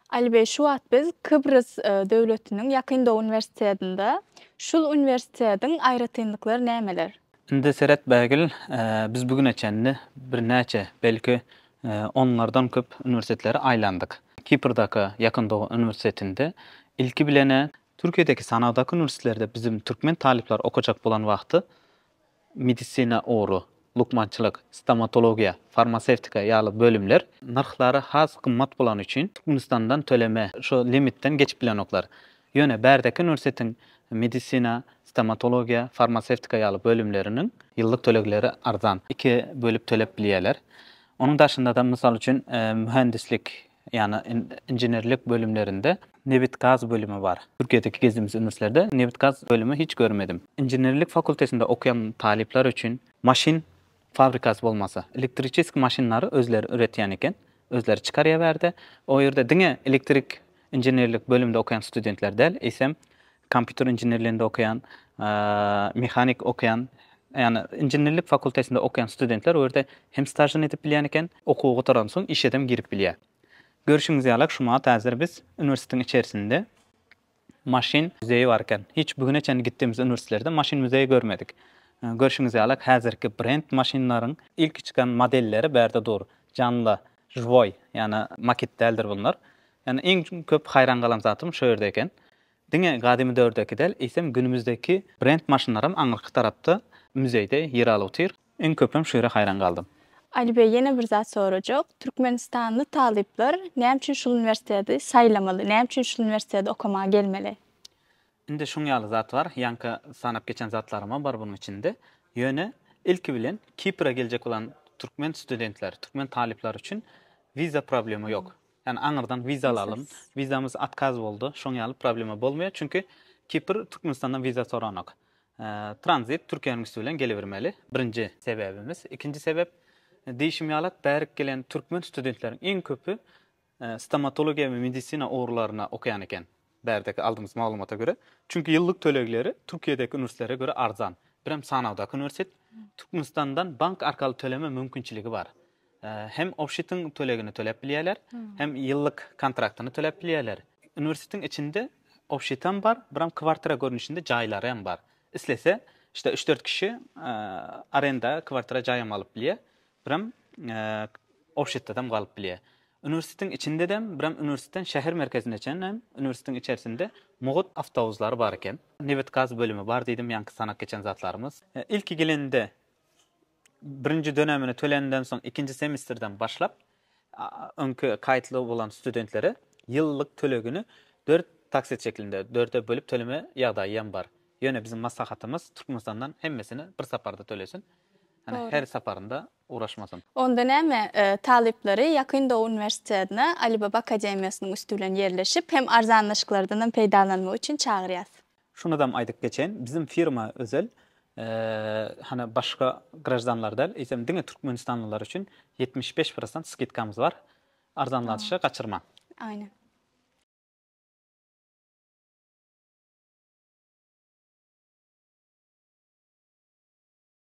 Alibey, şu wagt biz Kybrys döwletiniň Ýakyn Dow uniwersitetinde. Şul uniwersitetiň aýratynlyklary nämeler? Indi seret Bägül, biz bu güne çenli birnäçe, belki, onlardan köp uniwersitetleri aýlandyk. Kiprdaky Ýakyn Dow uniwersitetinde ilki bilen-ä. Türkiýedäki sanawdaky uniwersitetlerde biziň türkmen talyplar okajak bolan wagty. Medisina ugry, lukmançylyk, stomatologiýa, farmasewtika ýaly bölümler nyrhlary has gymmat bolany üçin Türkmenistandan töleme şu limitden geçip bilenoklar. Ýöne bärdäki uniwersitetiň medisina, stomatologiýa, farmasewtika ýaly bölümleriniň ýyllyk tölegleri arzan, iki bölüp tölep bilýärler. Onuň daşynda-da, mysal üçin, mühendislik Ýagny inženerlik bölümlerinde nebit-gaz bölümi bar. Türkiýedäki gezdimis üniversitelerde nebit-gaz bölümi hiç görmedim. Inženerlik fakultetinde okaýan talyplar üçin maşyn fabrikasy bolmasa, elektriçeski maşynlary özleri üretýän eken, özleri çykarýaberdi. O ýerde diňe elektrik inženerlik bölümde okaýan studentler däl, eýsem Kompýuter inženerliginde okaýan, mehanik okaýan, ýagny inženerlik fakultetinde okaýan studentler o ýerde hem stažyny edip bilýän eken, okuwy gutaransoň işedem girip bilýär. Görşüňiz ýalak şu wagt häzir biz uniwersitetiň içerisinde maşyn müzeýi bar eken. Hiç bu güne çenli gitdigimis uniwersitetlerde maşyn müzeýi görmedik. Görşüňiz ýalak häzirki brend maşynlaryň ilki çykan modelleri bärde dur. Janly, žwoý, ýagny makit däldir bunlar. Ýagny iň köp haýran galan zatym şu ýerde eken. Diňe gadymy döwürdäki däl, eýsem günümizdäki brend maşynlaram aňyrky tarapda müzeýde ýer alyp otyr. Iň köpem şu ýere haýran galdym. Alibeý ýene bir zat sorajak, türkmenistanly talyplar näme üçin şul uniwersiteti saýlamaly, näme üçin şul uniwersiteti okamaga gelmeli? Indi şuň ýaly zat bar, ýaňky sanap geçen zatlarymam bar bunuň içinde. Ýöne ilki bilen Kipre geljek bolan türkmen studentleri, türkmen talyplary üçin wiza problema ýok. Ýani aňyrdan wiza alalym. Wizamyz otkaz boldy. Şoň ýaly problema bolmaýar. Çünki Kipr Türkmenistandan wiza soranok. Tranzit Türkiýäniň üsti bilen gelibermeli. Birinji sebäbimiz. Ikinji sebäp diýişim ýalak bärik gelen türkmen studentleriň iň köpi stomatologiýa we medisina ugurlaryna okaýan eken. Bärdäki aldymyz maglumata görä, çünki ýyllyk tölegleri Türkiýedäki uniwersitlere görä arzan. Birem sanawdaky uniwersitet Türkmenistandan bank arkaly töleme mümkinçiligi bar. Hem obşitiň tölegini töläp bilýärler, hem ýyllyk kontraktyny töläp bilýärler. Uniwersitetiň içinde obşitem bar, birem kwartira görnüşinde jaýlary hem bar. Islese, işte üç-dört kişi arenda kwartira jaý hem alyp bilýär. Birem Ofşetdadam galyp bilýär. Uniwersitetiň içindedem, birem uniwersiteden şäher merkezine çenli hem uniwersitetiň içerisinde mugut awtobuslar bar eken. Nebit-gaz bölümi bar diýdim, ýaňky sanap geçen zatlarymyz. Ilki gelende birinji dönemini tölänimden soň ikinji semestrden başlap öňki kaýtly bolan studentlere ýyllyk tölegini dört taksit şeklinde, dörde bölüp töleme ýagdaýy hem bar. Ýöne biziň maslahatymyz Türkmenistandan hemmesini bir saparda tölesin. Ýöne her saparynda ugraşmasyn. Onda näme, talyplary Ýakyn Dow uniwersitetine Alibaba akademiýasynyň üsti bilen ýerleşip, hem arzanlaşyklardanam peýdalanmak üçin çagyrýas. Şunydam aýdyp geçeýin, biziň firma özel, hany başga graždanlar däl, eýsem diňe türkmenistanlylar üçin ýetmiş bäş prosent skidkamyz bar. Arzanlatyşy gaçyrmaň. Aýnen.